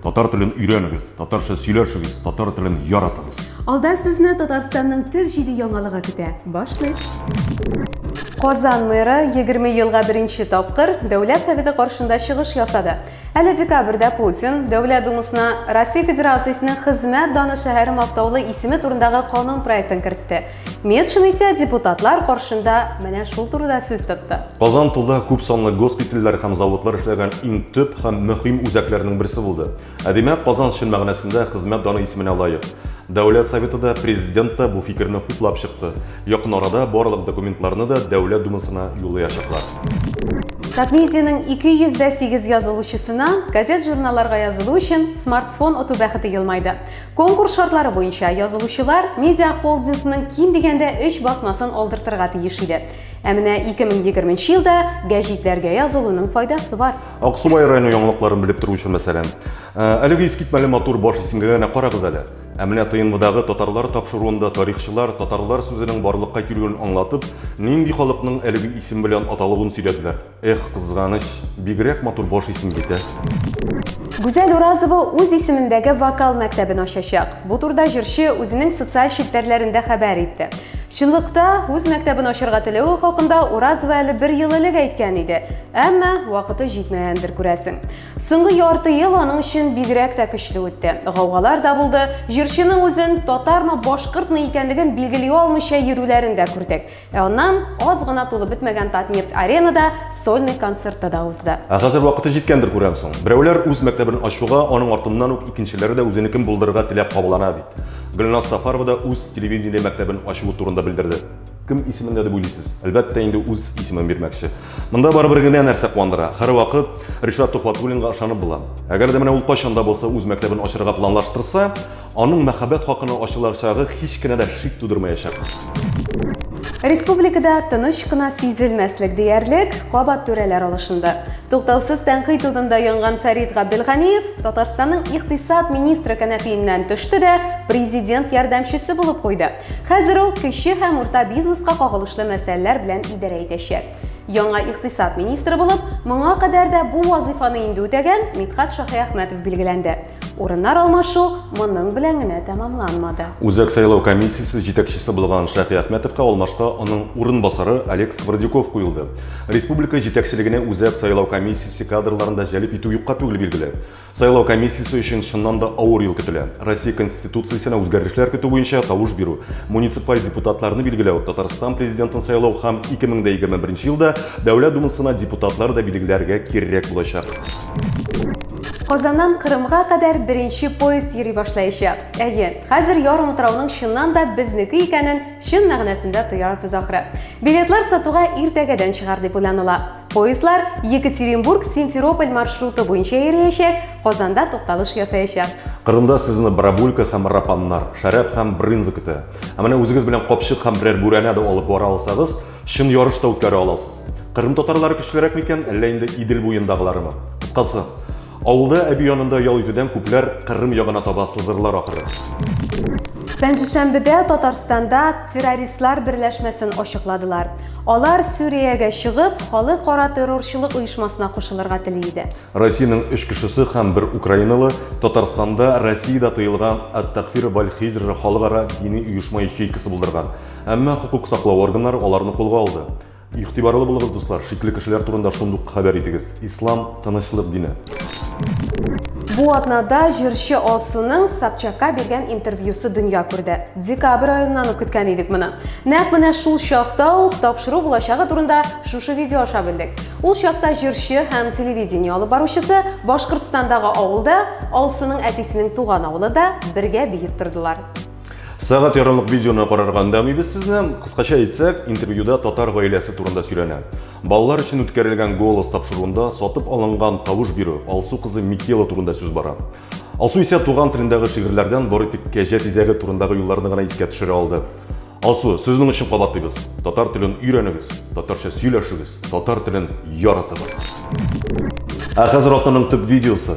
Татар телен өйрәнегез, татарча сөйләшегез, татар телен яратыгыз. Алда сезне Татарстанның төп җиде яңалыгы көтә. Башлыйк! Казан мэры 20 елга беренче тапкыр Дәүләт Советы каршында чыгыш ясады. Әле декабрьдә Путин Дәүләт Думасына Россия Федерациясенең хезмәт даны шәһәре мактаулы исеме турындагы канун проектын кертте. Метшин исә депутатлар каршында менә шул турыда сүз тотты. Казан тылда күп санлы госпитальләр һәм заводлар эшләгән иң төп һәм мөһим үзәкләрнең берсе булды. Ә димәк, Казан чын мәгънәсендә хезмәт даны исеменә лаек. Дәүләт Советы да, президент та бу фикерне хуплап чыкты. Якын арада барлык документларны да Дәүләт Думасына юллаячаклар. Татмедианың 208 язылучысына газет-журналларга язылу өчен смартфон оту бәхете елмайды. Конкурс шартлары буенча язылучылар медиахолдингның ким дигәндә 3 басмасын алдыртырга тиеш иде. Ә менә 2020 елда гәҗитләргә язылуның файдасы бар. Аксубай районы яңалыкларын белеп тору өчен мәсәлән, э, әлеге искитмәле матур баш исемгә генә карагыз әле. Ә менә ТНВдагы татарлар тапшыруында тарихчылар татарлар сүзенең барлыкка килүен аңлатып, нинди халыкның әлеге исем белән аталуын сөйләделәр. Эх, кызганыч, бигрәк матур баш исем бит, ә? Гүзәл Уразова үз исемендәге вокал мәктәбен ачачак. Бу турда җырчы үзенең социаль челтәрләрендә хәбәр итте. Чынлыкта, үз мәктәбен ачырга теләве хакында Уразова әле бер ел элек әйткән иде. Әмма вакыты җитмәгәндер күрәсең. Соңгы ярты ел аның өчен бигрәк тә көчле үтте. Гаугалар да булды. Җырчының үзен татармы, башкортмы икәнлеген билгели алмыйча йөрүләрен дә күрдек. Ә аннан аз гына тулып бетмәгән Татнефть аренада сольный концерты да узды. Ә хәзер вакыты җиткәндер күрәмсең. Берәүләр үз мәктәбен ачуга, аның артыннан ук икенчеләре дә үзенекен булдырырга теләп кабалана бит. Гөлназ Сафарова да үз телевидение мәктәбен ачуы турында белдерде. Кем исемендә дип уйлыйсыз? Әлбәттә инде үз исемен бирмәкче. Монда барыбер генә нәрсә куандыра, һәрвакыт Ришат Төхвәтуллинга ышанып була. Әгәр дә менә ул кайчан да булса үз мәктәбен ачырга планлаштырса, Аның мәхәббәт хакына ачылачагы һич кенә дә шик тудырмаячак. Республикада тыныч кына сизелмәслек диярлек кабат түрәләр алышынды. Туктаусыз тәнкыйть удында янган Фәрид Габделганиев Татарстанның икътисад министры кәнәфиеннән төште дә президент ярдәмчесе булып куйды. Хәзер ул кече һәм урта бизнеска кагылышлы мәсьәләләр белән идарә итәчәк. Яңа икътисад министры булып моңа кадәр дә бу вазыйфаны инде үтәгән Митхат Шаһиәхмәтов билгеләнде. Урыннар алмашу моның белән генә тәмамланмады. Үзәк сайлау комиссиясе җитәкчесе булган Шәфи Әхмәтовка алмашка аның урынбасары Олег Сквордюков куелды. Республика җитәкчелегенә үзәк сайлау комиссиясе кадрларын да җәлеп итү юкка түгел билгеле. Сайлау комиссиясе өчен чыннан да авыр ел көтелә. Россия Конституциясенә үзгәрешләр көтү буенча тавыш бирү, муниципаль депутатларны билгеләү, Татарстан президентын сайлау һәм 2021 елда Дәүләт Думасына депутатлар да билгеләргә кирәк булачак. Казаннан Кырымга кадәр беренче поезд йөри башлаячак. Әйе, хәзер ярым утрауның чыннан да безнеке икәнен чын мәгънәсендә тоярбыз ахры. Билетлар сатуга иртәгәдән чыгар дип уйланыла. Поездлар Екатеринбург-Симферополь маршруты буенча йөриячәк, Казанда тукталыш ясаячак. Кырымда сезне барабулька һәм рапаннар, шәраб һәм брынза көтә. Ә менә үзегез белән капчык һәм берәр бүрәнә дә алып бара алсагыз, Чын ярыш та үткәрә аласыз. Кырым татарлары көчлерәк микән, әллә инде Идел буендагыларымы? Кыскасы, авылда әби янында ял итүдән күпләр Кырым ягына таба сызырлар ахры. Пәнҗешәмбедә Татарстанда террористлар берләшмәсен ачыкладылар. Алар Сүриягә чыгып, халыкара террорчылык оешмасына кушылырга тели иде. Россиянең өч кешесе һәм бер украиналы Татарстанда Россиядә тыелган Ат-Такфир валь-Хиҗр халыкара дини оешма ячейкасы булдырган. Әмма хокук саклау органнары аларны кулга алды. Игътибарлы булыгыз, дуслар, шикле кешеләр турында шундук хәбәр итегез. Ислам, тынычлык дине. Бу атнада җырчы Алсуның Собчакка биргән интервьюсы дөнья күрде. Декабрь аеннан ук көткән идек моны. Нәкъ менә шул чакта ук тапшыру булачагы турында шушы видео аша белдек. Ул чакта җырчы һәм телевидение алып баручысы Башкортстандагы авылда, Алсуның әтисенең туган авылы да бергә биеп тордылар. Сәгать ярымлык видеоны карарга өндәмибез сезне. Кыскача әйтсәк, интервьюда татар гаиләсе турында сөйләнә. Балалар өчен үткәрелгән голос тапшыруында сатып алынган тавыш бирү Алсу кызы Микела турында сүз бара. Алсу исә туган телендәге шигырьләрдән бары тик кәҗә тизәге турындагы юлларны гына искә төшерә алды. Алсу, сезнең өчен кабатлыйбыз. Татар телен өйрәнегез, татарча сөйләшегез, татар телен яратыгыз. Ә хәзер атнаның төп видеосы.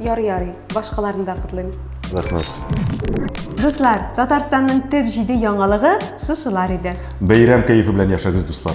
Ярый, ярый, башкаларны да котлыйм. Рәхмәт. Дуслар, Татарстанның төп җиде яңалыгы шушылар иде. Бәйрәм кәефе белән яшәгез, дуслар.